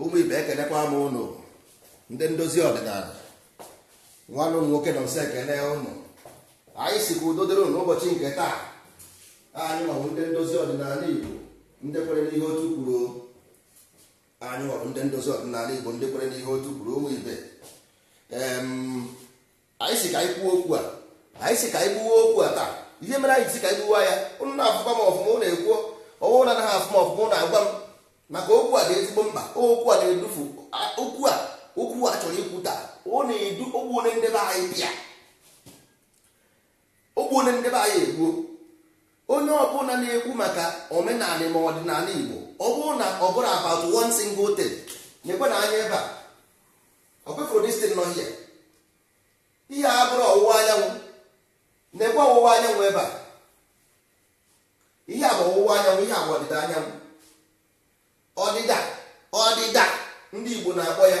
ụmụ ibe ekenekwa m ụnụ ndị ndozi ọdịnala nwanne ụnụ nwoke na m si ekene ụnụ anyị si ka udo dịrị ụnụ ụbọchị nke taa anyị nwa bụ ndị ndozi ọdịnala igbo ndị kwere n'ihe otu kwuru anyị nwa bụ ndị ndozi ọdịnala igbo ndị kwere n'ihe otu kwuru ụmụ ibe anyị si ka anyị kwuo okwu a anyị si ka anyị gbuwe okwu a taa ihe mere anyị si ka anyị gbuwa ya ụnụ na-afụkwa m ọfụma ụnụ ekwuo ọ bụrụ na anaghị afụ m ọfụma ụnụ agwa m maka okwu a dị ezigbo mkpa okwu a na-edufu okwu a okwu a chọrọ ikwu taa ọ na-edu ogbu onye nde be anyị bịa ogbu onye nde be anyị egbuo onye ọbụla na-ekwu maka omenala ma ọdịnala Igbo ọ bụrụ na ọ bụrụ about one single thing nekwenụ anya ebe a ọkwa ị fụrụ this thing nọ here ihe a bụrụ ọwụwa anyanwụ nekwe ọwụwa anyanwụ ebe a ihe a bụ ọwụwa anyanwụ ihe a bụ ọdịda anyanwụ ọdịda ọdịda ndị Igbo na-akpọ ya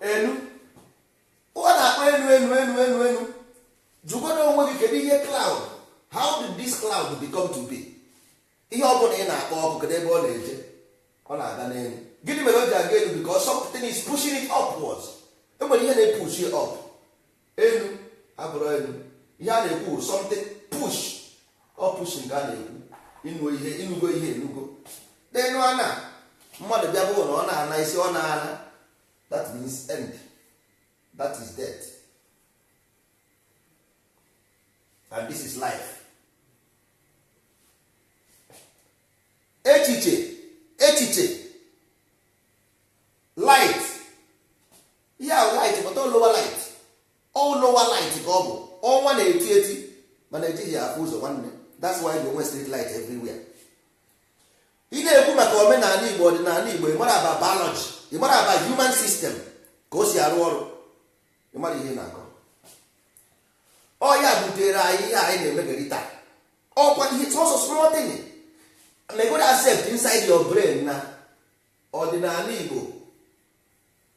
enu ọ na-akpọ enu enu enu jụgodo onwe gị kedu ihe cloud how did this cloud become to be ihe ọ bụla ị na-akpọ ọkụ kedu ebe ọ na-eje ọ na-aga n'enu gịnị mere o ji aga elu because something is pushing it upwards enwere ihe na-epushi up enu abụrụ enu ihe a na-ekwu something push ọ push nke a na-ekwu inu ihe inugo ihe enugo n'enu ana mmadụ bịa bụrụ na ọ na-ana ị sị ọ na-ana that means end that is death and this is life echiche echiche light ihe a bụ light but ọ lower light ọ lower light ka ọ bụ ọnwa na-eti eti mana ejighị ya afụ ụzọ nwanne that's why enwe street light everywhere ị na-ekwu maka omenala igbo ọdịnala igbo ịmarọ about biology ịmarọ about human system ka o si arụ ọrụ ịmarọ ihe ị na-akọ ọ ya butere anyị ihe anyị na-emegari taa ọkwa ihe sọsọ small thing megodu accept inside your brain na ọdịnala igbo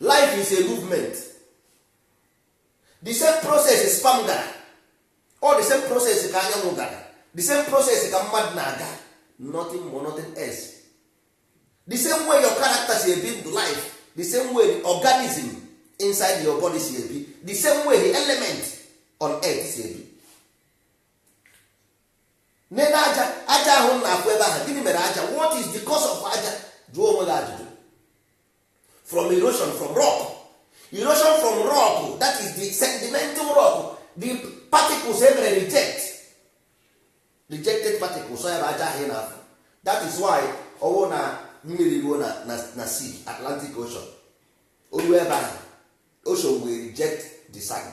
life is a movement the same process sperm gara ọ the same process ka anyanwụ gara the same process ka mmadụ na-aga nothing more nothing else the same way your character si ebi ndụ life the same way the organism inside your body si ebi the same way the element on earth si ebi nene aja aja ahụ ị na-afụ ebe ahụ gịnị mere aja what is the cause of aja jụọ onwe gị ajụjụ from erosion from rock erosion from rock that is the sedimental rock the particles e mere reject rejected particles ya bụ aja ahụ ị na-afụ that is why ọ wụ na mmiri ruo na na na sea atlantic ocean o ruo ebe ahụ ocean will reject the sand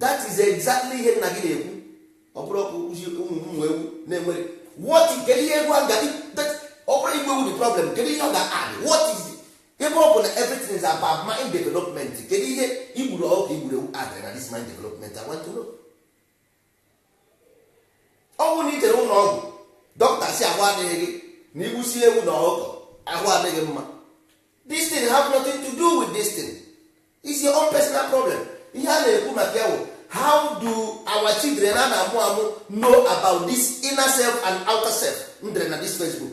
that is exactly ihe m na gị na-ekwu ọ bụrụ ọkụ kwụzi ụmụ ụmụ ewu na-enwere what kedu ihe egwu aga ọ bụrụ igbu ewu the problem kedu ihe ọ ga-add what is ebe ọ bụ na everything is about mind development kedu ihe i gburu ọkụkọ i gburu ewu addịrị na this mind development I want to know ọ bụrụ na i jere ụlọ ọgwụ dọkịta sị ahụ adịghị gị na i gbusi ewu na ọkụkọ ahụ adị gị mma this thing have nothing to do with this thing is your own personal problem ihe a na-ekwu maka ya bụ how do our children a na-amụ amụ know about this inner self and outer self m dere na this Facebook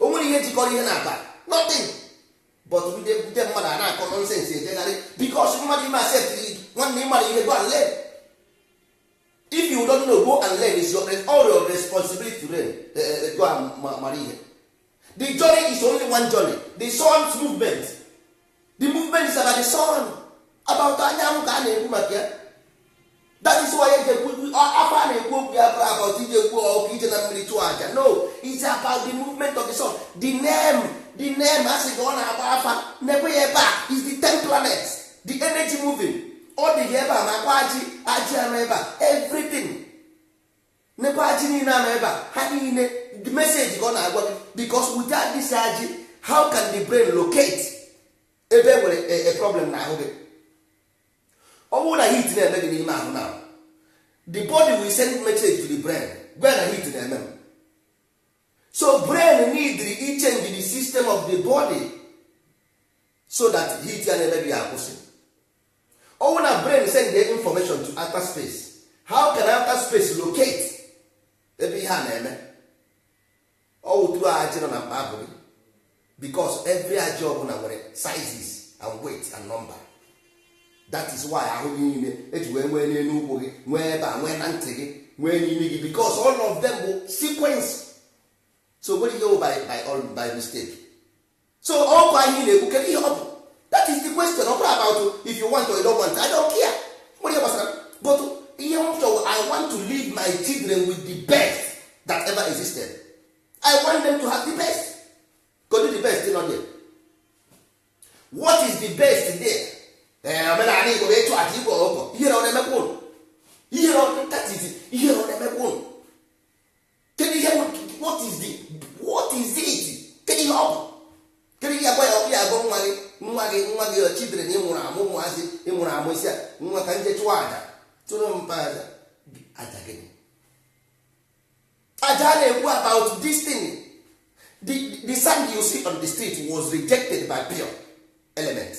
o nwere ihe jikọrọ ihe naabọ nothing but ndị ndị mmadụ a na-akọ nonsense ejegharị because mmadụ ime accept nwanne ịmara ihe go and learn if you don't know go and learn is your all your responsibility to learn eh, eh, eh, go and ma- mara ihe the journey is only one journey the sun's movement the movement is about the sun about anyanwụ ka a na-ekwu maka ya that is why eji ekwu afa na-ekwu okwu ya bụrụ about ije egbu ọkụkọ ije na mmiri chụọ aja no it's about the movement of the sun the name the name a sị ka ọ na-agba afa na-ekwu ya ebe a is the ten planets the energy moving ọ dị gị ebe a makwa ajị ajị a nọ ebe a everything nekwa ajị niile a nọ ebe a ha niile the message ka ọ na-agwa gị because without this ajị how can the brain locate ebe nwere e, e problem na ahụ gị ọ bụrụ na heat na-eme gị n'ime ahụ na the body will send message to the brain gwa na heat na-eme m so brain need ichange the system of the body so that heat ya na-eme gị akwụsị ọ wụ na brain send the information to outer space how can outer space locate ebe ihe a na-eme ọ wụ through ajị nọ na mkpa abụ gị because every ajị ọbụla nwere sizes and weight and number that is why ahụ gị niile eji wee nwee n'elu ụkwụ gị nwee ebe a nwee na ntị gị nwee n'imi gị because all of them bụ sequence so o nwerọ ihe by, by, all, by mistake so okwu anyị na-ekwu kedu ihe ọ bụ that is the question ọ bụrọ about if you want or you don't want I don't care nwere ihe gbasara but ihe m chọrọ I want to leave my children with the best that ever existed I want them to have the best kedu the best nọ there what is the best there ee eh, omenala Igbo bụ ịchụ aja igbu ọkụkọ ihere ọ na-emekwa ụnụ ihere ọ na-emekwa ụnụ kedu ihe what is the what is it kedu ihe ọ bụ kedu ihe agwa ya okwu ị ya-agwa nwa gị nwa gị nwa gị your children ị mụrụ amụ ụmụazị ị mụrụ amụ ị sị ya nwa ka anyị je chụwa aja chụọrọ mpa aja aja gịnị aja a na-ekwu about this thing the, the sand you see on the street was rejected by pure elements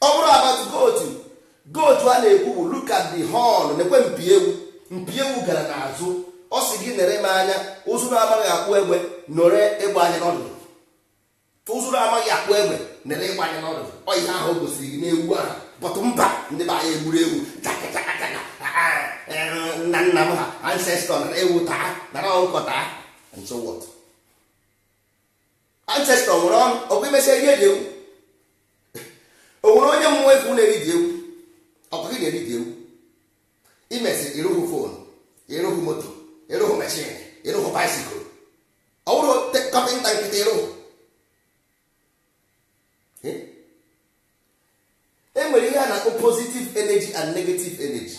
ọ bụrụ about goat goat a na-ekwu bụ look at the horn nekwe mpi ewu mpi ewu gara n'azụ ọ sị gị nere m anya ụzụ na-amaghị akpụ egbe nere egbe anya n'ọdụdụ ụzụ na-amaghị akpụ egbe nere egbe anya n'ọdụdụ ọ ihe ahụ o gosiri gị n'ewu ahụ but mba ndị be anyị egburu ewu chaka chaka chaka ah, ah, eh, nna nna m ha ancestor nara ewu taa nara ọkụkọ taa and so what ancestor nwere ọnụ ọkwa i mesịa i rie the ewu o nwere onye mmụọ ị fụ na-eri the ewu ọkwa gị na-eri the ewu i mesịa ị rụghị phone ị rụghị moto ị rụghị machine ị rụghị bicycle ọ bụrụ carpenter nkịtị ị rụghị e nwere ihe a na-akpọ positive energy and negative energy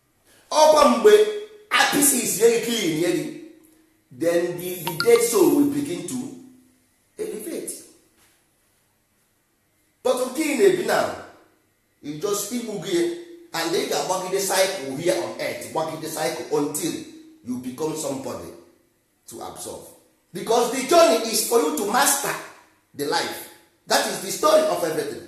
ọkwa mgbe appease ye gị clean ye gị then the, the dead soul will begin to elevate but nke ị na-ebi now you just e gbuo gị and ị ga-agbagide cycle here on earth gbagide cycle until you become somebody to absorb because the journey is for you to master the life that is the story of everything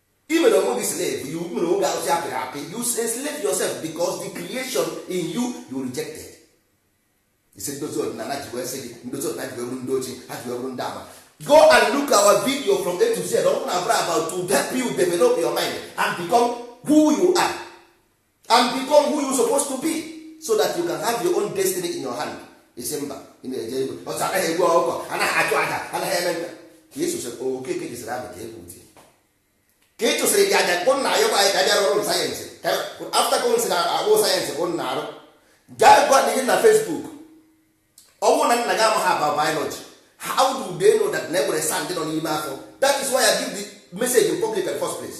i mere onwe gị slave i mere onwe gị arụsị apịrị apị you enslave yourself because the creation in you you rejected ị sị ndozi ọdịnala ji wee sị gị ndozi ọdịnala ji wee bụrụ ndị ochie ha ji wee bụrụ ndị ama go and look our video from A to Z ọ bụrụ na ọ bụrọ about to help you develop your mind and become who you are and become who you supposed to be so that you can have your own destiny in your hand ị sị mba ị na-eje igwe ọtụ anaghị egbu ọkụkọ anaghị achụ aja anaghị eme nke a ka ị sosịrị okeke jisịrị abụ ka egwu di ka ị chụsịrị gị aja kpụ nna ya gwa anyị ka aja rụrụ science after ka m sị na ọ bụ science bụ nna arụ gaa gwa na ihe na Facebook ọ bụrụ na nna gị amaghị about biology how do they know that na e nwere sand nọ n'ime afọ that is why I give the message in public at first place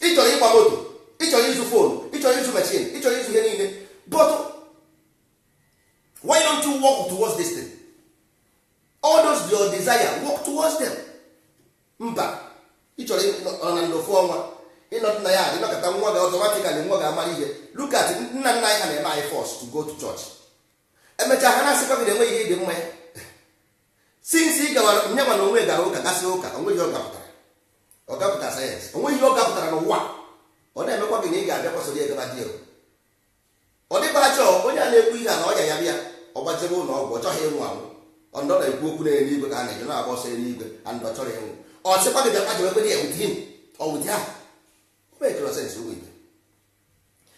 ị chọrọ ịgba moto ị chọrọ ịzụ phone ị chọrọ ịzụ machine ị chọrọ ịzụ ihe niile but why don't you work towards this thing? all those your desire work towards them mba ị chọrọ ịnọ na ndụ fụ ọnwa ịnọdụ na ya adị nọkọta nwa gị automatically nwa ga-amara ihe look at nna nna anyị ha na-eme anyị force to go to church emechaa ha na-asịkwa gị na enweghị ihe dị mma ya since ị gawara nye mana onye gara ụka gasị ụka o nwe ihe ọ gapụtara ọ gapụtara science o nwe ihe ọ gapụtara n'ụwa ọ na-emekwa gị na ị ga-abịa kwasoro egaba dị egwu ọ dịkwa achọ onye a na-ekwu ihe a na ọya ya bịa ọ gbajebe ụlọ ọgwụ ọ chọghị ịnwụ anwụ ọ nọ na-ekwu okwu na eluigwe ka a na-eje na-agba ọsọ eluigwe and ọ chọrọ ịnwụ ọ sịkwa gị bịa gbajebe kwere ya with him or with her o mekere sense ụmụ ibe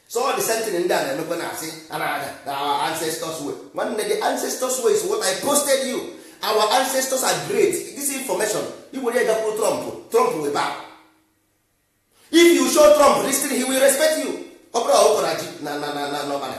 so all the same thing ndị a na-emekwa na asị a na-ada na our ancestors way nwanne the ancestors way is what I posted you our ancestors are great this information i were ya gakwuru Trump Trump will bow if you show Trump this thing he will respect you ọ bụrọ ọkụkọ na ji na na na na n'ọbara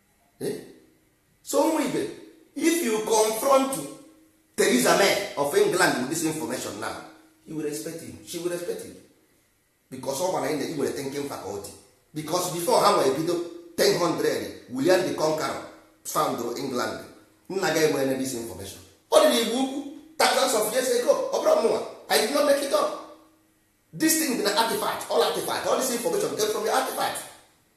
eh? so ụmụ ibe if you confront Theresa May of England with this information now he will respect him she will respect him because ọ mara na i nwere thinking faculty because before ha nwere bido 1000 William the Conqueror found England nna gị ha enwere this information ọ dị n'Igbo Ukwu thousands of years ago ọ bụrọ mụnwa I did not make it up this thing dị na artifact all artifact all this information came from the artifact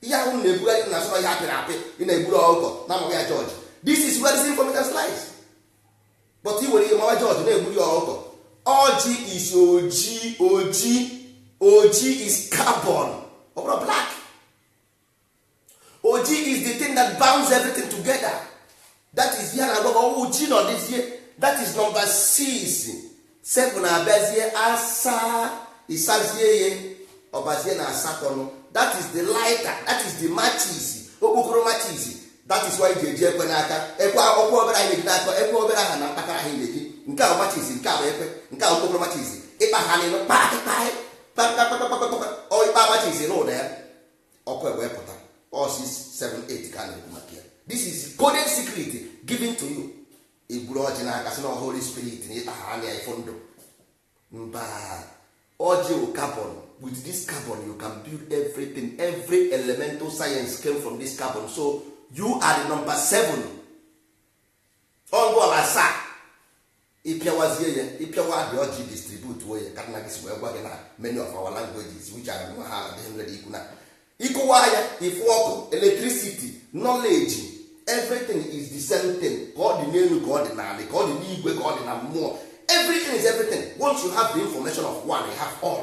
ihe ahụ na-ebugharị na-asị na ọ ihe a pịrị apị ị na-egburu ọkụkọ na-amawa ya george this is where this information lies but i were ya mawa george na-egburu ya ọkụkọ ọjị is oji oji oji is carbon ọ bụrọ black oji is the thing that bounds everything together that is ihe a na-agwa gị oji nọdụzie that is number 6 7 abịazie asaa ị sazie ya ọ bazie na asatọ that is the lighter that is the matches okpokoro matches that is why ị ga-eji ekwe n'aka ekwe ọkwa obere anyị na-eji n'aka ekwe obere aha na mkpakara anyị na-eji nke a wụ matches nke a wụ ekwe nke a wụ okpokoro matches ịkpa ha n'elu kpakịkpaị kpakpakpakpakpakpa ọ ịkpa matches n'ụda ya ọkụ ewee pụta ọ 678 ka a na-ekwu maka ya this is coded secret given to you i buru ọjị n'aka sị na holy spirit na ịkpa ha anya ifo ndụ mba ọjị wụ carbon with this carbon you can build everything every elemental science came from this carbon so you are the number seven ọ gbala asaa ị pịawazie ya ị pịawa the ọjị distribute ya ka nna gị si wee gwa gị na many of our languages which are nwa ha adịghị nwere ikwu na ịkụwa ya ị fụ ọkụ electricity knowledge everything is the same thing ka ọ dị n'elu ka ọ dị n'ala ka ọ dị n'igwe ka ọ dị na mmụọ everything is everything once you have the information of one you have all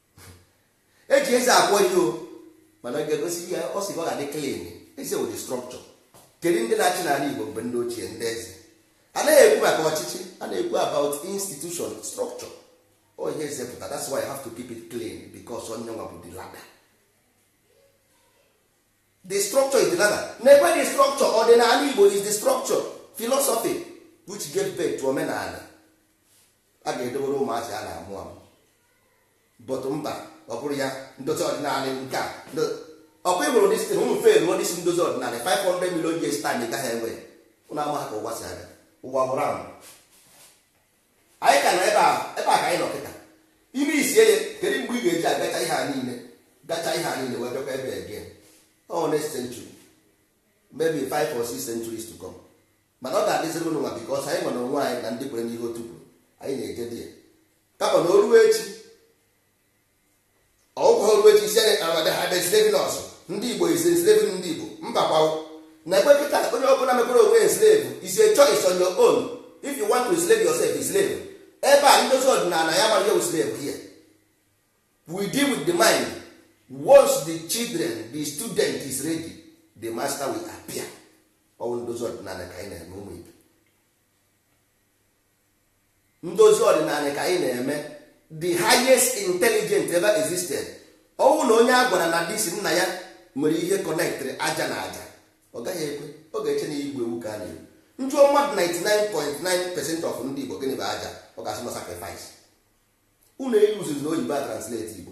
eji eze akwọ ihe o mana ọ ga-egosi ihe ọ sị ọ ga-adị clean eze wụ the structure kedu ndị na-achị n'ala Igbo mgbe ndị ochie ndị eze a naghị ekwu maka ọchịchị a na-ekwu about institution structure ọ ihe eze pụta that's why I have to keep it clean because ọ ya nwa bụ the ladder the structure is the ladder na-ekwe the structure ọdịnala Igbo is the structure philosophy which gave birth to omenala a ga-edobere ụmụazị a na-amụ amụ but mba ọ bụrọ ya ndozi ọdịnala nke a ọkwa ị hụrụ distin ụmụ fe ruo this ndozi ọdịnala 500 million years time ị gaghị enwe ụnụ amaha ka ụwa si aga ụwa wụ round anyị ka nọ ebe a ebe a ka anyị nọ kịta ime isi ya kedu mgbe ị ga-eji agacha ihe a niile gacha ihe a niile wee bịakwa ebe a again ọ next century maybe 5 or 6 centuries to come mana ọ ga-adịziri ụnụ mma because anyị nwere onwe anyị na ndị kwere n'ihe otu kwuru anyị na-eje di ya kama na o ruo echi ọ bụkwa o ruo echi ị sị anyị ama they have been slaving us ndị igbo is slaving ndị igbo mbakwa o na ekwe kịta onye ọbụla nwekwara onwe ya slave is a choice on your own if you want to slave yourself is slave ebe a ndozi ọdịnala ya mara yewu slave here we deal with the mind once the children the student is ready the master will appear ọ wụ ndozi ọdịnala ka anyị na-eme ụmụ ibe ndozi ọdịnala ka anyị na-eme the highest intelligent ever existed ọ wụrụ na onye a gwara na destiny ya nwere ihe kọnektrị aja na aja ọ gaghị ekwe ọ ga-eche na igbu ewu ka a na-ekwu ị jụọ mmadụ 99.9 percent of ndị Igbo gịnị bụ aja ọ ga-asị na sacrifice unu eyuzizi na oyibo a translate Igbo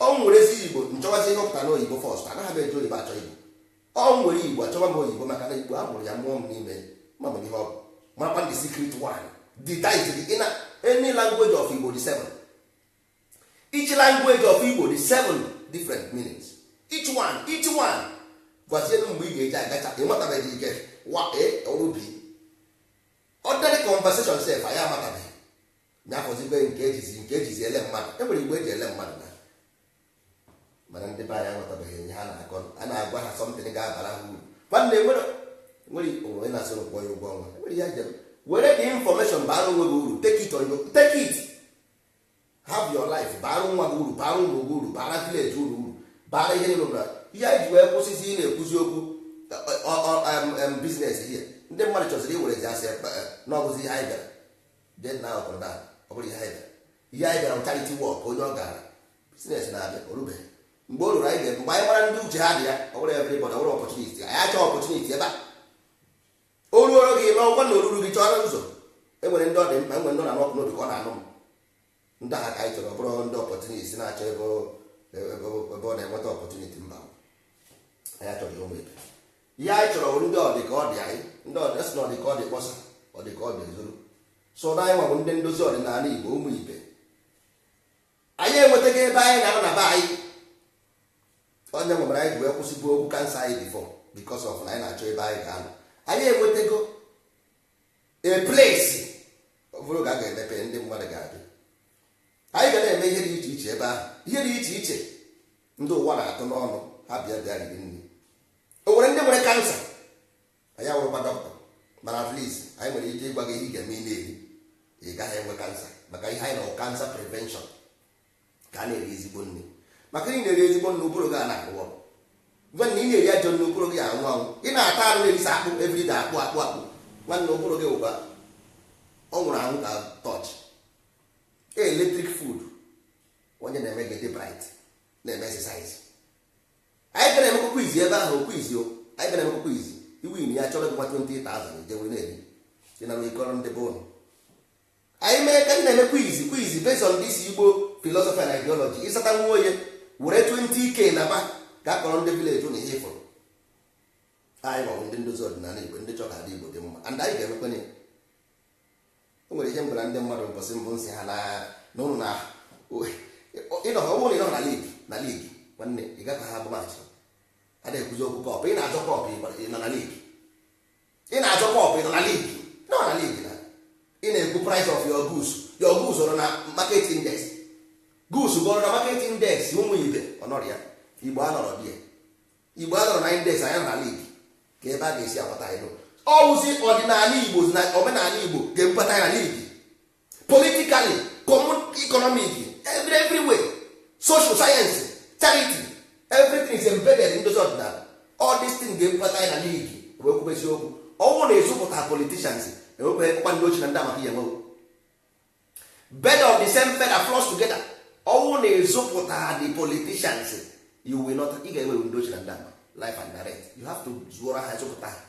ọ m werezie igbo m chọwazi ihe ọ pụtara n'oyibo first anaghị m eji oyibo achọ igbo ọ m were igbo achọwa m oyibo maka na igbo a mụrụ ya mụọ m n'ime ma m ihe ọ bụ makwa the secret one the dice dị in any language of igbo dị seven each language of igbo dị seven different meanings each one each one gwazielu mgbe ị ga-eji agacha ị matabeghị ike wa e ọrụ bi ordinary conversation sef anyị amatabeghị ya fọzie nke ejizi nke ejizi ele mmadụ e nwere igbo eji ele mmadụ na mana ndị be anyị aghọtabeghị ihe ha na-akọ a na-agwa ha something ga-abara ha uru nwanne nwere nwere onye na-asị ị kwụọ ya ụgwọ ọnwa nwere ihe ajem were the information bara onwe gị uru take it on your take it have your life bara nwa gị uru bara ụmụ gị uru bara village unu uru bara ihe niile uru ihe anyị ji wee kwụsịzi ị na-ekwuzi okwu business ihe ndị mmadụ chọziri iwere ji asị na ọ bụzi ihe anyị bịara then na ọ bụrụ na ọ bụrọ ihe anyị bịara ihe anyị bịara charity work onye ọ gara business na-abịa o rubeghị mgbe o ruru anyị ga-ebu mgbe anyị mara ndị uche ha dị ya ọ bụrọ everybody ọ bụrọ opportunity anyị achọ opportunity ebe a o ruoro gị ma ọ wụ na o rurọ gị chọrọ ụzọ enwere ndị ọ dị mkpa enwere ndị ọ na-anụ ọkụ n'obi ka ọ na-anụ m ndị agha ka anyị chọrọ bụrụ ndị opportunist na-achọ ebe ọ na-enweta opportunity mba anyị achọghị ụmụ ibe ihe anyị chọrọ bụ ndị ọdịka ọ dị anyị ndị ọdịka si na ọdịka ọ dị kpọsa ọdịka ọ dị ezoro so na anyị nwa bụ ndị ndozi ọdịnala igbo ụmụ ibe anyị enwetago ebe anyị ga-anọ na be anyị ọ ya mere anyị ji wee kwụsịbụ okwu kansa anyị before because of na anyị na-achọ ebe anyị ga-anọ anyị enwetago a place ọ bụrụ oge a ga-emepe ndị mmadụ ga-adị anyị ga na-eme ihe dị iche iche ebe ahụ ihe dị iche iche ndị ụwa na-atụ n'ọnụ ha bịa bịa riri nri o nwere ndị nwere kansa anyị awụrọkwa dọkịta mana at least anyị nwere ike ịgwa gị ihe ị ga-eme ị na-eri ị gaghị enwe kansa maka ihe anyị na cancer prevention ka a na-eri ezigbo nri maka na ị na-eri ezigbo nri ụbụrụ gị ana-arụ ọrụ gwa na ị na-eri ajọ nri ụbụrụ gị anwụ anwụ ị na-ata arụ na-erisa akpụ everyday akpụ akpụ akpụ nwanne ụbụrụ gị ugbua ọ nwụrụ anwụ ka torch electric food ọ ya na-eme gị dị bright na-eme exercise anyị ga na-emekwa quiz ebe ahụ quiz o anyị ga na-emekwa quiz ị win ya a chọọrọ gị gwa 20,000 i jee were na-eri ị naa ị kọọrọ ndị be unu anyị mee ka na-eme quiz quiz based on this igbo philosophy and ideology ị sata nwa onye were 20k naba ga akọrọ ndị village na ihe ị fụrụ anyị bụ ndị ndozi ọdịnala igbo ndị chọrọ ka ndị igbo dị mma and anyị ga-emekwa ya o nwere ihe m gwara ndị mmadụ mbọsị mbụ m sị ha na ụlọ na ịnọ ha ụlọ ị nọ na league na league nwanne ị gaghị agba match a na-ekwuzi okwu cup ị na-azọ cup ị nọ na league ị na-azọ cup ị nọ na league nọ na league na ị na-ekwu price of your goods your goods ọ nọ na market index goods gị ọ nọ na market index ụmụ ibe ọ nọrọ ya igbo anọrọ there igbo anọrọ na index anyị anọ na league kee ebe a ga-esi agbata anyị ọ wụzi ọdịnala igbo na omenala igbo ga-ebubata anyị na league politically economic every everywhere social science charity everything is embedded in those ọdịnala all this thing ga-ebubata anyị na league wee kwubezie okwu ọ wụ na ịzụpụta politicians enwekweghị kpụkpa ndị oshi na ndị ama ka ị ya-enwe o birds of the same feather flocks together ọ wụ na ịzụpụta the politicians you will not ị ga-enwe ndị oshi na ndị ama live and direct you have to zụọrọ ha zụpụta ha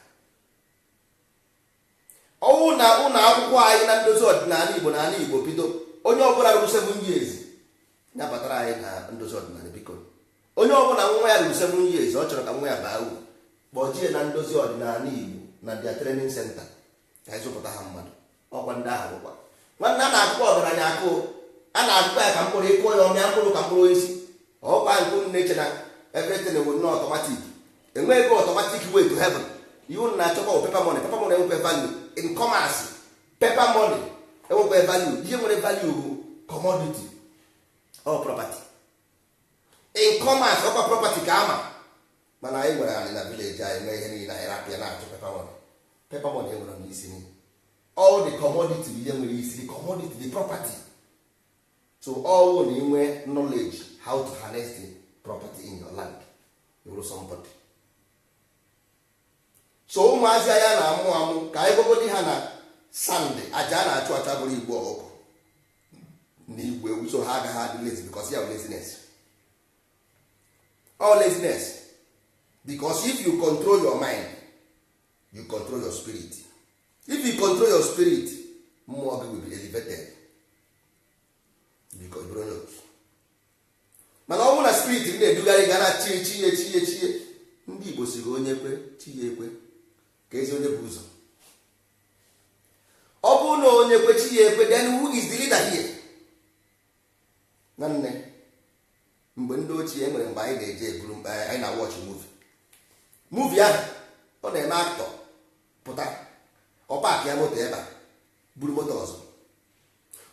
ọ wụ na ụlọ akwụkwọ anyị na ndozi ọdịnala igbo na ala igbo bido onye ọbụla ruru seven years ya batara anyị na ndozi ọdịnala biko onye ọbụla nwa ya ruru seven years ọ chọrọ ka nwa ya baa uru kpọjie na ndozi ọdịnala igbo na their training center ka anyị zụpụta ha mmadụ ọkwa ndị ahụ bụkwa nwanne a na-akụkwa ọgaranya akụ a na-akụkwa ya ka mkpụrụ ị kụọ ya ọ mịa mkpụrụ ka mkpụrụ osisi ọkwa nke unu na-eche na everything will not automatic enweghị ebe automatic way to heaven ihe unu na-achọkwa paper money paper money enwekwe value in commerce paper money enwekwe value ihe nwere value bụ commodity or property in commerce ọkwa property ka a ma mana anyị nwere anị na village anyị mee ihe niile anyị rapụ ya na-achọ paper money paper money enwerọ isi niile ọ the commodity bụ ihe nwere isi the commodity the property so ọ wụ na i nwee knowledge how to harness the property in your land ị wụrụ somebody so ụmụazị anyị na-amụ amụ ka anyị gwagodi ha na sand aja a na-achụ achụ abụrọ igbu ọkụkọ na igbu ewu so ha agaghị adị lazy because ya laziness ọ laziness because if you control your mind you control your spirit if you control your spirit mmụọ gị will be elevated mana ọ bụrụ na spirit na-edugharị gị na chie chie chie chie ndị igbo si gị onye kwe chi ya ekwe kezi onye bu ụzọ ọ bụrụ na onye kwe chi ya ekwe then who is the leader here nwanne mgbe ndị ochie e nwere mgbe anyị na-eje eburu mkpa anyị na watch movie movie ahụ ọ na-eme actor pụta ọ paakịa moto ebe a buru moto ọzọ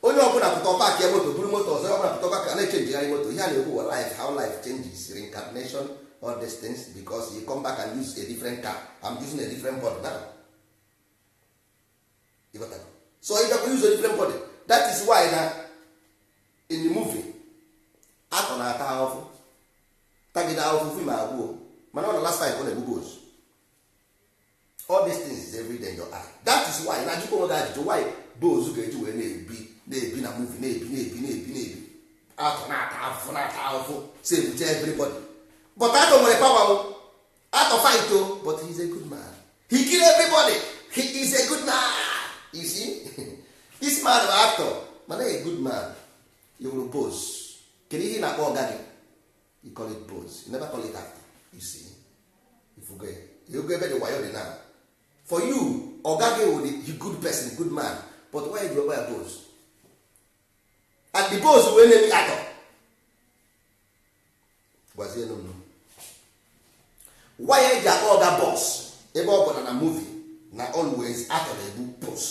onye ọbụla pụta ọ paakịa moto buru moto ọzọ ọbụla pụta ọ paakịa na-echenjigharị moto ihe a na-ekwu wụ life how life changes reincarnation all these things because you come back and use a different car I'm using a different body now so ị gakwa use a different body that is why na in the movie actor na-ata ahụfụ tagide ahụfụ film agwụ mana ọ na last time ọ na-egbu boss all these things is every day in your eye that is why na jụkwa onwe gị ajụjụ why boss ga-eji wee na-ebi na-ebi na movie na-ebi na-ebi na-ebi na-ebi actor na-ata afụfụ na-ata afụfụ save everybody but actor nwere power o actor fight o but he is a good man he kill everybody he is a good man you see this man bụ actor mana a good man you will boss kedu ihe ị na-akpọ ọga gị you call it boss you never call it actor you see ị fụgo ebe the wayo dị now for you ọga gị wụ the good person good man but why ọ wụrụ boss and the boss wee na-eme actor gwazie nụ why e ji akpọ ọga boss ebe ọ bụ na na movie na always actor na-egbu boss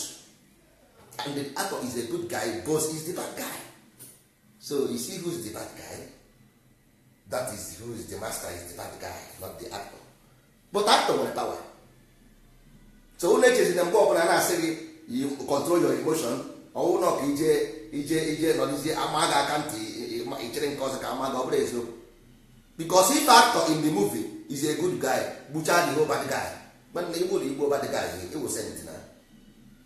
and the actor is a good guy boss is the bad guy so you see who's the bad guy that is who is the master is the bad guy not the actor but actor nwere power so unu echezi na mgbe ọbụla na-asị gị you control your emotion ọwụ na ka ije ije ije nọdụzie ama gị aka ntị i chere nke ọzọ ka ama gị ọ bụrụ eziokwu because if actor in the movie is a good guy gbuchaa the whole bad guy mana igbo na igbo bad guy ị wụ saint na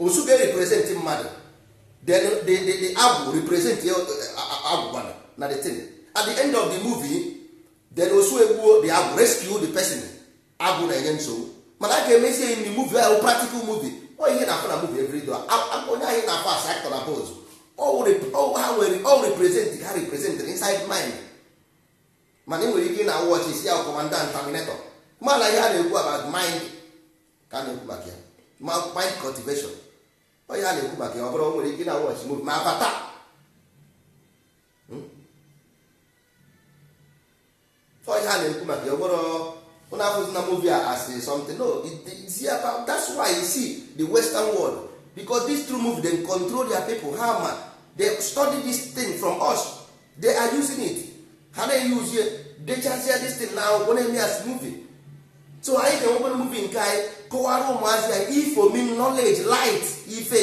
osu ga-represent mmadụ then agwụ represent agwụgwa na the thing at the end of the movie then osu egbuo the agwụ rescue the person agwụ na-enye nsogbu mana a ga-emezi enyi na movie ahụ practical movie ọ ihe a na-afụ na movie every day onye anyị na-afụ as actor na boss ha nwere ọ represent ha represent inside mind mana ị nwere ike na watch ị sị ya commando na terminator mana ihe a na-ekwu about mind ka a na-ekwu maka ya ma mind cultivation ọ ihe a na-ekwu maka ya ọ bụrụ nwere ike na watch movie ma avatar hmm? ọ ihe a na-ekwu maka ya ọ bụrụ unu afụzi na movie as something no it's about that's why you see the western world because it's through movie they control their people ha ma they study this thing from us they are using it ha na-eyuzie dechazia this thing na akwụkwọ na-eme as movie so anyị ga-enwekwana movie nke anyị kọwara ụmụazị anyị ifo mean knowledge light ife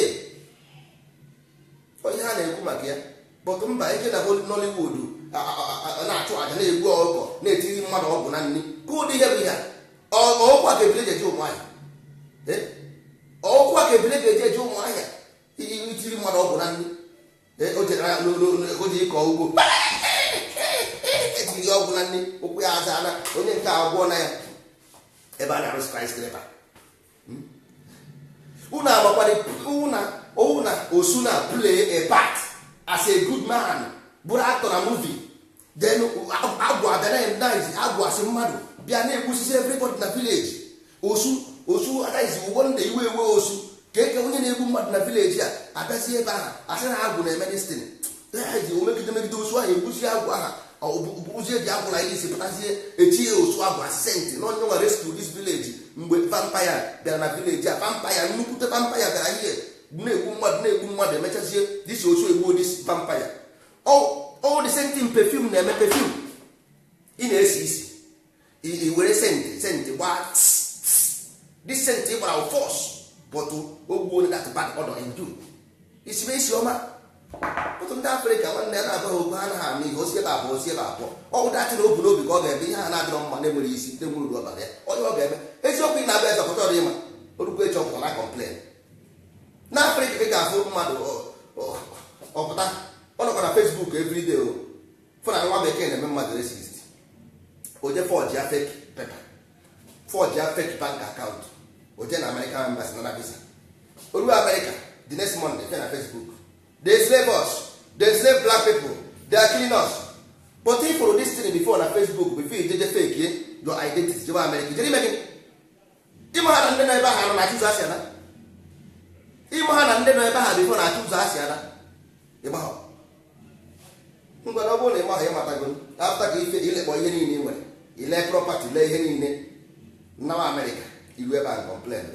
ọ ihe a na-ekwu maka ya but mba ike na Nollywood na-achụ aja na-egbu ọkụkọ na-etiri mmadụ ọgwụ na nri ka ụdị ihe bụ ya ọkwa ka ebile jeje ụmụahịa ọkwa ka ebile ga-eje eje ụmụahịa itiri mmadụ ọgwụ na nri o je ịkọ ugbo etiri ya ọgwụ n'ani ụkwụ ya aza na onye nke agwọ na ya ebe a na-arụ skyscraper unu agbakwara na ọwụ na osu na play a part as a good man bụrụ actor na movie then agwụ abịa na endaizi agwụ asị mmadụ bịa na-egbusisi everybody na village osu osu adaizi ụgbọ ndị iwe ewe osu ka eke onye na-egbu mmadụ na village a abịazi ebe ahụ asị na agwụ na-eme destin daizi omegide megide osu ahụ egbusi agwụ ahụ bụzie dị agwụla ihe isi pụtazie echi ya osu agwụ a saint na onye nwa rescue this village mgbe vampire bịara na village a vampire nnukwute vampire bịara ihe na-egbu mmadụ na-egbu mmadụ emechazie this osu egbuo this vampire all the same thing perfume na-eme perfume ị na-esi isi i were scent scent gbaa this scent ị gbara force but ogbuo na that bad odor in you isibe isi ọma otu ndị afrịka nwanne ya na-agwa ha okwu ha anaghị anụ ihe osi ebe abụọ osi ebe abụọ ọ bụ dirty na obu n'obi ka ọ ga-eme ihe ha na-adịrọ mma na-enwere isi ndị nwere uru ọbara ya onye ọ ga-eme eziokwu ị na-abịa eze ọkọtọ dị ịma orukwu eche ọkụkọ na complain n'afrịka ị ga-afụ mmadụ ọ pụta ọ nọkwa na facebook everyday o fụ na nwa bekee na-eme mmadụ racist o je forge a fake paper forge a fake bank account o je na american embassy nara visa o ruo america the next monday fe na facebook they slave us they slave black people they are killing us but ị fụ this thing before na facebook before you jeje fake your identity jewa america jere ime gị ịmaghị na ndị nọ ebe ahụ na-achọ ụzọ e si ana ịmaghị na ndị nọ ebe ahụ before na-achọ ụzọ e si ana ịmaghị ngwa ọ bụrụ na ịmaghị ịmatago after ka ife i lekpọ ihe niile ị nwere lee property lee ihe niile nawa amerịka i ruo ebe a complain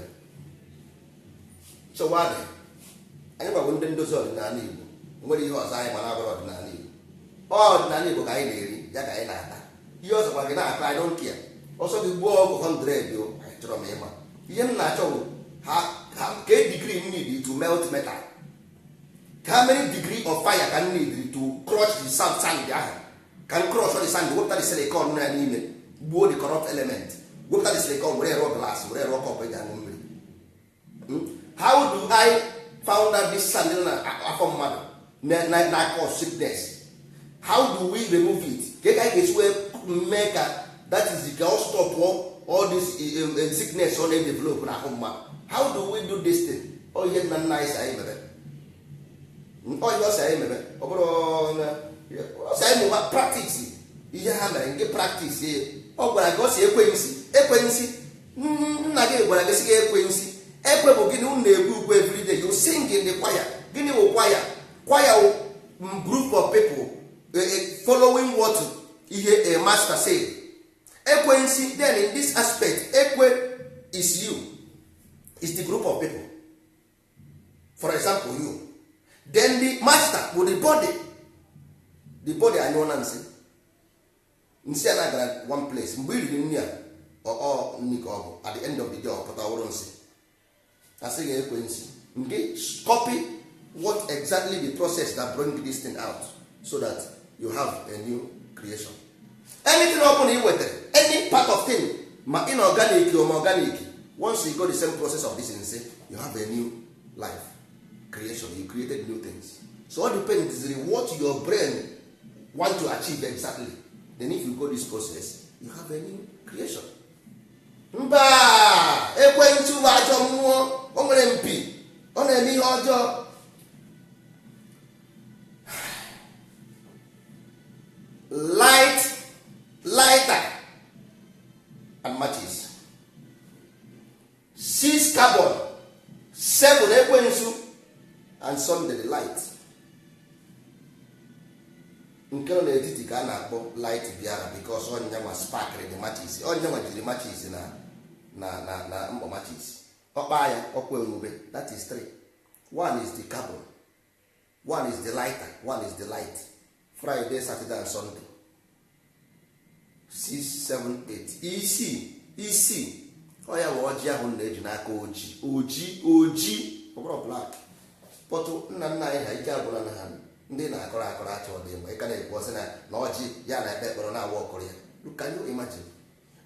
so why anyị gbagbo ndị ndozi ọdịnala Igbo nwere ihe ọzọ anyị ma na-abụrọ ọdịnala Igbo ọdịnala Igbo ka anyị na-eri ya ka anyị na-ata ihe ọ sọ gị na-akọ i don't care ọ sọ gị gwọọ ọgwụ 100 o achọrọ m ịma ihe m na-achọ bụ kee degree m need to melt metal how many degree of fire ka m need to crush the sand sand ahụ ka m crush the sand wepụta the silicon nọ ya n'ime gbuo the corrupt element wepụta the silicon were rụọ glass were rụọ cup eji aṅụ mmiri Hmm? how do i found out this sand nọ na afọ mmadụ na- na na cause sickness how do we remove it ka ka anyị ga-esi wee mee ka that is the ka ọ stop all this eh, eh, eh, sickness ọ na-edevelop n'ahụ mmadụ how do we do this thing ọ ihe nna nna anyị sị anyị mere ọ ihe ọ sị anyị mere ọ bụrọ ọ sị anyị mụba practice ihe ha mere nke practice ya ọ gwara gị ọ sị ekwe nsi ekwe nsi nna gị gwara gị sị gị ekwe nsi ekwe bụ gịnị unu na-ekwe ukwe everyday you sing in the choir gịnị wụ choir choir wụ group of people following what ihe a master say ekwe nsi then in this aspect ekwe is you is the group of people for example you then the master bụ the body the body anyụọna nsị nsị a na-agara one place mgbe i riri nri a ọ nri ka ọ bụ at the end of the day ọ pụta ọ bụrụ nsị a sị gị ekwe nsị nke copy what exactly the process that bring this thing out so that you have a new creation anything ọ bụla ị wetara any part of thing ma inorganic or ma organic once you go the same process of this nsị you have a new life creation you created new things so all depends on what your brain want to achieve exactly then if you go this process you have a new creation mba ekwensu wụ ajọ mmụọ o nwere mpi ọ na-eme ihe ọjọọ light lighter and matches six carbon seven ekwensu and sunday the light nke nọ n'etiti ka a na-akpọ light bịara because ọ ya nwa sparkrị the matches ọ ya nwa jiri matches na na na na mkpọ matches ọ kpaa ya ọkụ enwube that is three one is the carbon one is the lighter one is the light friday saturday and sunday six seven eight isi isi ọ ya bụ ọjị ahụ na-eji n'aka oji oji oji ọ bụrụ black pọtụ nna nna anyị ha ike agwụla na ha ndị na-akọrọ akọrọ achọ dị mgbe ị ka na-ekwu ọ sị na na o ji ya na-ekpe ekpere na-awa ọkụrụ ya can you imagine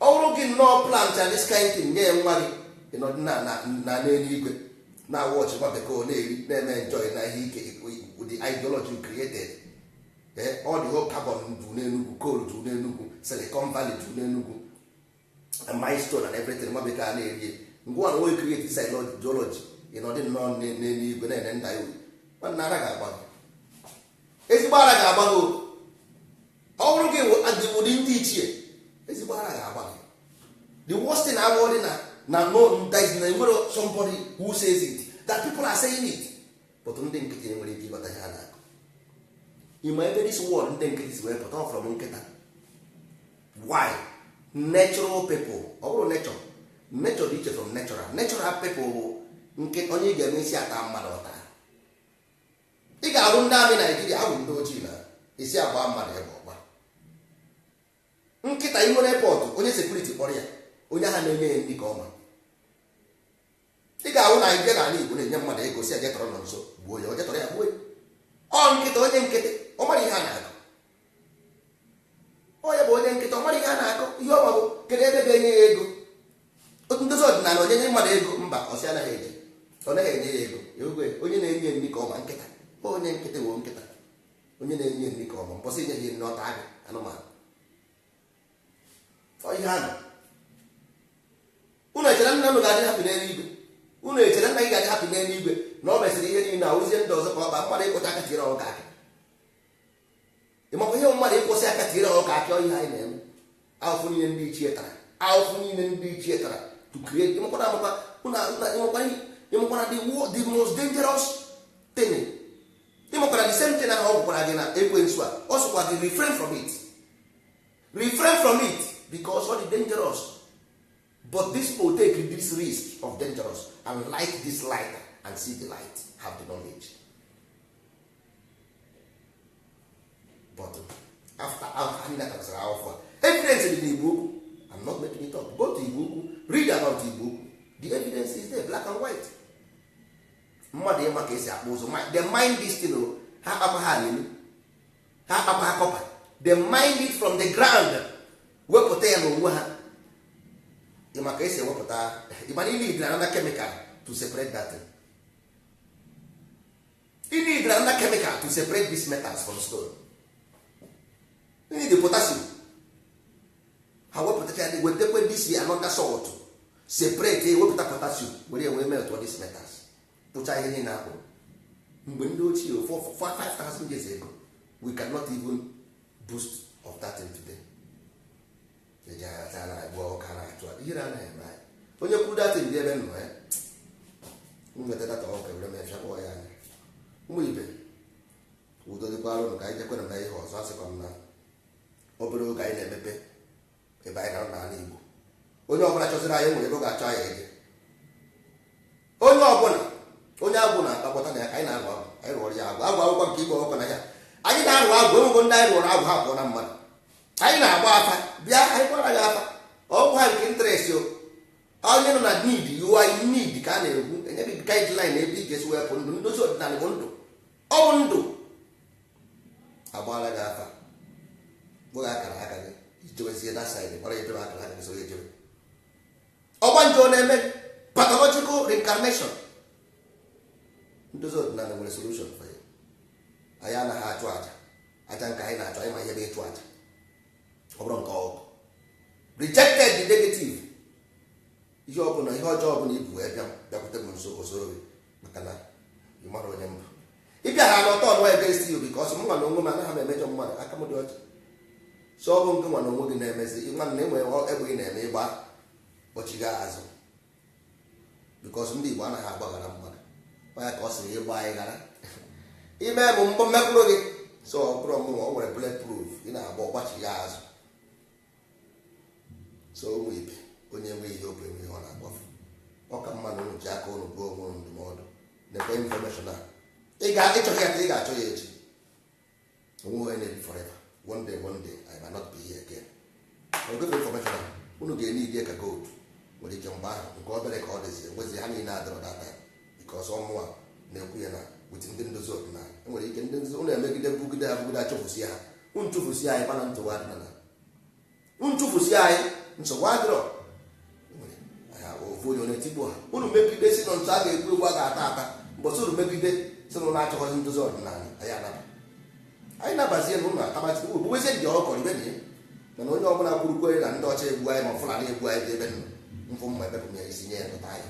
ọ bụrụ gị nnọọ plant all this kind thing nye nwa gị ị nọdụ na na na n'eluigwe na-watch nwa bekee na-eri na-eme enjoy na ihe ike the ideology you created all the whole carbon ju n'enugwu coal ju n'enugwu silicon valley ju n'enugwu milestone and everything nwa bekee a na-eri ngwa na onye create this ideology ị nọdụ nnọọ n'eluigwe na-ene nda ya uru nwanne ara ga-agba gị ezigbo ara ga-agba gị ọ bụrụ gị adịwụdị ndị ichie ezigbo ara ga-agba gị the worst thing abụọdị na na no na e nwere somebody who says it that people are saying it but ndị nkịtị nwere ike ịghọta ihe a na-akọ ị ma ebe this word ndị nkịtị si wee pụta ọ from nkịta why natural people ọ bụrụ nature nature dị iche from natural natural people bụ onye ị ga-eme ị sị ya taa mmadụ ọ taa ị ga-ahụ ndị army nigeria ahụ ndị ojii na ị sị ya gbaa mmadụ egbe ọ gbaa nkịta ị nwere pọtụ onye security kpọrọ ya onye ahụ na-enye ya nri ka ọ ma ị ga-ahụ na anyị bịa n'ala igbo na-enye mmadụ ego sị ya je tọrọ nonso gbuo ya o je tọrọ ya gbuo ya ọ nkịta onye nkịtị ọ mara ihe a na-akọ onye bụ onye nkịtị ọ mara ihe a na-akọ ihe ọ ma bụ kedu ebe ga-enye ya ego otu ndozi ọdịnala onye nye mmadụ ego mba ọsị anaghị eji ọ naghị enye ya ego onye na-enye nri ka ọ ma nkịta onye nkịtị wụ nkịta onye na-enye nri ka ọ ma mbọsị ị nyeghị nri ọ taa gị anụmanụ ihe ahụ unu echere nna unu ga-adị happy n'elu igwe unu echere nna gị ga-adị happy n'elu igwe na ọ mesịrị ihe niile na ozie ndị ọzọ ka ọ bụ mmadụ ịkwọcha aka tiere ọkụkọ akị ị makwa ihe mmadụ ịkwọsị aka tiere ọkụkọ akị ọ ihe anyị na-eme ahụfụ niile ndị ichie tara ahụfụ niile ndị ichie tara to create ị makwa na ị makwa ị makwa na the most dangerous thing ị makwa na the same thing ahụ ọ gwakwara gị na ekwensu a ọ sịkwa gị refrain from it refrain from it because ọ dị dangerous but this people take this risk of dangerous and light this light and see the light have the knowledge but after anyị natasịrị akwụkwọ evidence dị n'Igbo Ukwu I'm not making it up go to Igbo Ukwu read about Igbo Ukwu the evidence is there black and white mmadụ ịma ka esi akpụ ụzụ they mine this thing ha akpama ha alelu ha akpakwa ha copper they mine it from the ground wepụta ya n'onwe ha ma ka esi ewepụta ị ma na ị need another chemical to separate that thing. ị need another chemical to separate these metals from stone ị need potassium ha wepụtacha ya wetakwa this another salt separate ewepụta potassium were wee melt all these metals kpụcha ihe niile akpụrụ mgbe ndị ochie for 5000 years ago we cannot even boast of that thing today eji agha taa na-agba ọka na-achụ ihe na-anaghị eme anyị onye kwuru datin dị ebe nọ ya nweta data ọka were mechaa kpọọ ya anya ụmụ ibe udo dịkwa arụ ka anyị jekwere na ihe ọzọ asịkwa m na obere oge anyị na-emepe ebe anyị nọ n'ala Igbo onye ọbụla chọziri anyị nwere ebe ọ ga-achọ anyị eje onye ọbụla onye agwụ na-akpakọta na ya ka anyị na-arụ agwụ anyị rụọrọ ya agwụ agwụ akwụkwọ nke mgbe ọkpụ na ya anyị na-arụ agwụ enwego ndị anyị rụọrọ agwụ ha pụọ na mmadụ anyị na-agba afa bịa anyị gbara gị afa ọgwụ ha nke interest o onye nọ na need you are in need ka a na-ekwu enye gị guideline ebe ị ga-esi wepụ ndụ ndozi ọdịnala bụ ndụ ọ bụ ndụ a gbaala gị afa gwa gị akara aka gị ị jewezie na side gbara ejebe akara aka gị soro ejebe ọgbanje ọ na-eme pathological reincarnation ndozi ọdịnala nwere solution for ya anyị anaghị achụ aja aja nke anyị na-achụ anyị ma ihe bụ ịchụ aja ọ bụrụ nke ọgụ rejected the negative ihe ọbụla ihe ọjọọ ọbụla i bu wee bịa bịakwute m nso o soro gị maka na ị mara onye m bụ ị bịa ha na ọ turn against you because mụ nwa na onwe m anaghị m emejọ mmadụ aka m dị ọcha so ọ bụ gị nwa na onwe gị na-emezi nwa na enwe egbe ị na-eme ị gba ọ gbachiga azụ because ndị Igbo anaghị agbaghara mmadụ onye ka ọ sịrị ịgba anyị ghara ime bụ mbọ mmekpụrụ gị so ọ bụrụ mụ nwa nwere bullet proof ị na-agba ọ gbachiga azụ so ụmụ ibe onye nwe ihe obi enwe ihe ọ na-akpọfe ọ ka mma na unu ji aka unu dụọ onwe unu ndụmọdụ nekwe information a ị chọghị ya taa ị ga-achọ ya echi o nweghị onye na-ebi forever one day one day I may not be here again ogebe information a unu ga-enye ịdị ka gold nwere ike mgbe ahụ nke obere ka ọ dịzi enwezi ha niile adọrọ data because ọ mụwa na-ekwu ya na with ndị ndozi ọdịnala enwere ike ndị ndozi unu emegide bugide ya bugide achụfụsi ha unu chụfụsi anyị mana nchụwa ọdịnala unu chụfụsi anyị nsogbu adịrọ ofu onye onye tigbo ha unu megide si na ntụ a ga-egbu egbu a ga-ata ata mbọsị unu megide sị na unu achọghọzi ndozi ọdịnala anyị anaba anyị nabazie na ụlọ atabazi ogbubezie ndị ọkọrọ ibe na ya mana onye ọbụla kwuru kwere na ndị ọcha egbu anyị ma Fulani egbu anyị ebe nọ mfụ mma ebepụ ya isi nye ya nkụta anyị